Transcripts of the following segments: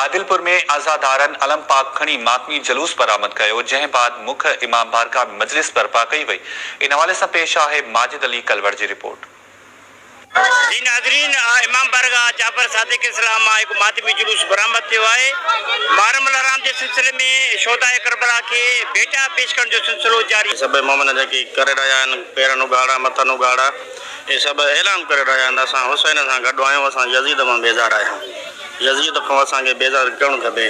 عادلپور ۾ عزادارن علم پاڪ کڻي ماتمي جلوس برآمد ڪيو، جنهن بعد مک امام بارگاهه ۾ مجلس برپا ڪئي وئي، ان حوالي سان پيش آهي ماجد علي ڪلوڙ جي رپورٽ. جي ناظرين امام بارگاهه جعفر صادق اسلام مان هڪ ماتمي جلوس برآمد ٿيو آهي، محرم الحرام جي سلسلي ۾ شهداء ڪربلا کي ڀيٽا پيش ڪرڻ جو سلسلو جاري. سڀئي مؤمن جيڪي ڪري رهيا آهن، پيرن اگهاڙا، مٿن اگهاڙا. اهي سڀ اعلان ڪري رهيا آهن ته اسان حسين سان گڏ آهيون، اسان يزيد مان بيزار آهيون، يزيد کان اسان کي بيزار ڪيون کپي،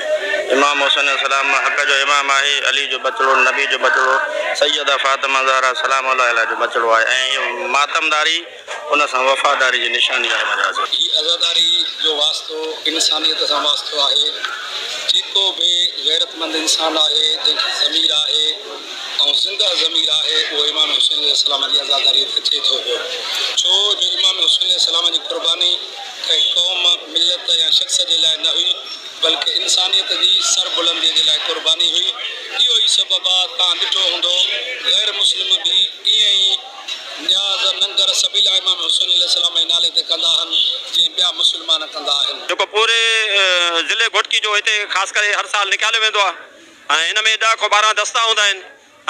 امام حسين عليه السلام حق جو امام آهي، علي جو ٻچڙو، نبي جو ٻچڙو، سيده فاطمه زهره سلام الله عليها جو ٻچڙو آهي ۽ هيء ماتمداري ان سان وفاداري جي نشاني آهي مجازي. هي عزاداري جو واسطو انسانيت سان واسطو آهي، جيڪو به غيرتمند انسان آهي، جنهن کي ضمير آهي، ۽ زنده ضمير آهي اهو امام حسين عليه السلام جي عزاداريء تي اچي ٿو پيو، ڇو جو امام حسين عليه السلام جي قرباني ڪنهن قوم، ملت يا شخص جي لاء نه هئي، بلڪه انسانيت جي سربلنديء جي لاء قرباني هئي، اهو ئي سبب آ، توهان ڏٺو هوندو غير مسلم به ايئن ئي نياز ننگر سبيلا امام حسين عليه السلام جي نالي تي ڪندا آهن، جيئن ٻيا مسلمان ڪندا آهن. جيڪو پوري ضلعي گهوٽڪي جو هتي خاص ڪري هر سال نڪاليو ويندو آ. ۽ ان ۾ ڏهه کان ٻارهن دستا هوندا آهن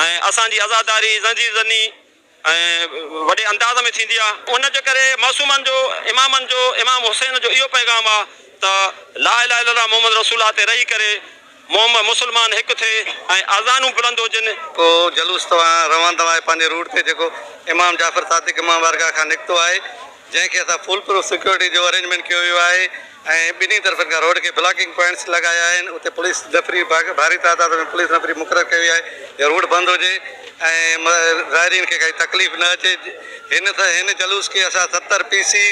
۽ اسان جي عزاداري زنجير زني ۽ وڏي انداز ۾ ٿيندي آهي. ان جي ڪري معصومن جو امامن جو امام حسين جو اهو پيغام آهي ته لا اله الا الله محمد رسول الله تي رهي ڪري محمد مسلمان هڪ ٿئي ۽ اذانون بلند هجن. پوء جلوس توهان روان توهان جي پنهنجي روٽ تي جيڪو امام جعفر صادق امام بارگاهه کان نڪتو آهي. جنهن کي اسان فول پروف سيڪيورٽي جو ارينجمينٽ ڪيو ويو آهي ۽ ٻنهي طرفن کان روڊ کي بلاڪنگ پوائنٽس لڳايا آهن اتي پوليس نفري ڀاري تعداد ۾ پوليس نفري مقرر ڪئي وئي آهي جو روڊ بند هجي ۽ زائرين کي ڪائي تڪليف نه اچي هن هن جلوس کي اسان ستر پي سي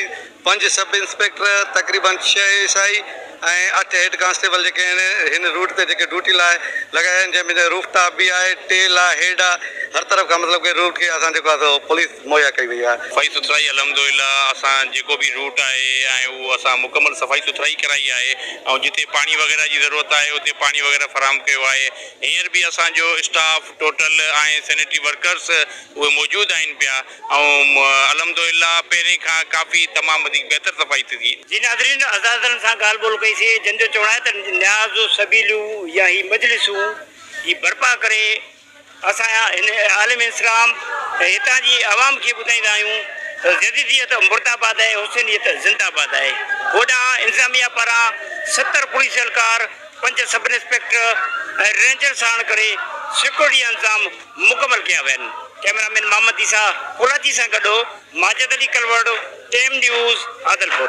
پنج سب انسپيڪٽر تقريبن ڇهه ايس آئي ۽ اٺ هيڊ ڪانسٽيبل جيڪي هن هن روٽ تي جيڪي ڊيوٽي لاء لڳايا آهن جنهن ۾ جنهن روف ٽاپ به آهي ٽيل آهي هيڊ آهي هر طرف کان مطلب ڪي روٽ کي اسان جيڪو آهي سو پوليس مهيا ڪئي وئي آهي. صفائي سٿرائي الحمدلله اسان جيڪو به روٽ آهي ۽ اهو اسان مڪمل صفائي سٿرائي ڪرائي آهي ۽ جتي پاڻي وغيره جي ضرورت آهي اتي پاڻي وغيره فراهم ڪيو آهي هينئر به اسان جو اسٽاف ٽوٽل ۽ سينيٽري ورڪرس اهي موجود آهن پيا. ۽ الحمدالله پهرين کان ڪافي تمام وڌيڪ بهتر صفائي ٿي ٿئي. جي ناظرين عزادرن سان ڳالهه ٻولهه ڪئي سي جن جو چوڻ آهي ته نياز سبيليون يا هي مجلسون جي برپا ڪري اسان هن عالم اسلام ۽ هتان جي عوام کي ٻڌائيندا آهيون ته جديديت مرداباد ۽ حسينيت زنداباد آهي هوڏانهن انتظاميه پاران ستر پوليس اهلڪار پنج سب انسپيڪٽر ۽ رينجر ساڻ ڪري سيڪيورٽي جا انتظام مڪمل ڪيا ويا آهن. ڪئميرا مين محمد عيسيٰ ڪولاچي سان گڏ هو. Majid Ali Kalor, team news, Adilpur.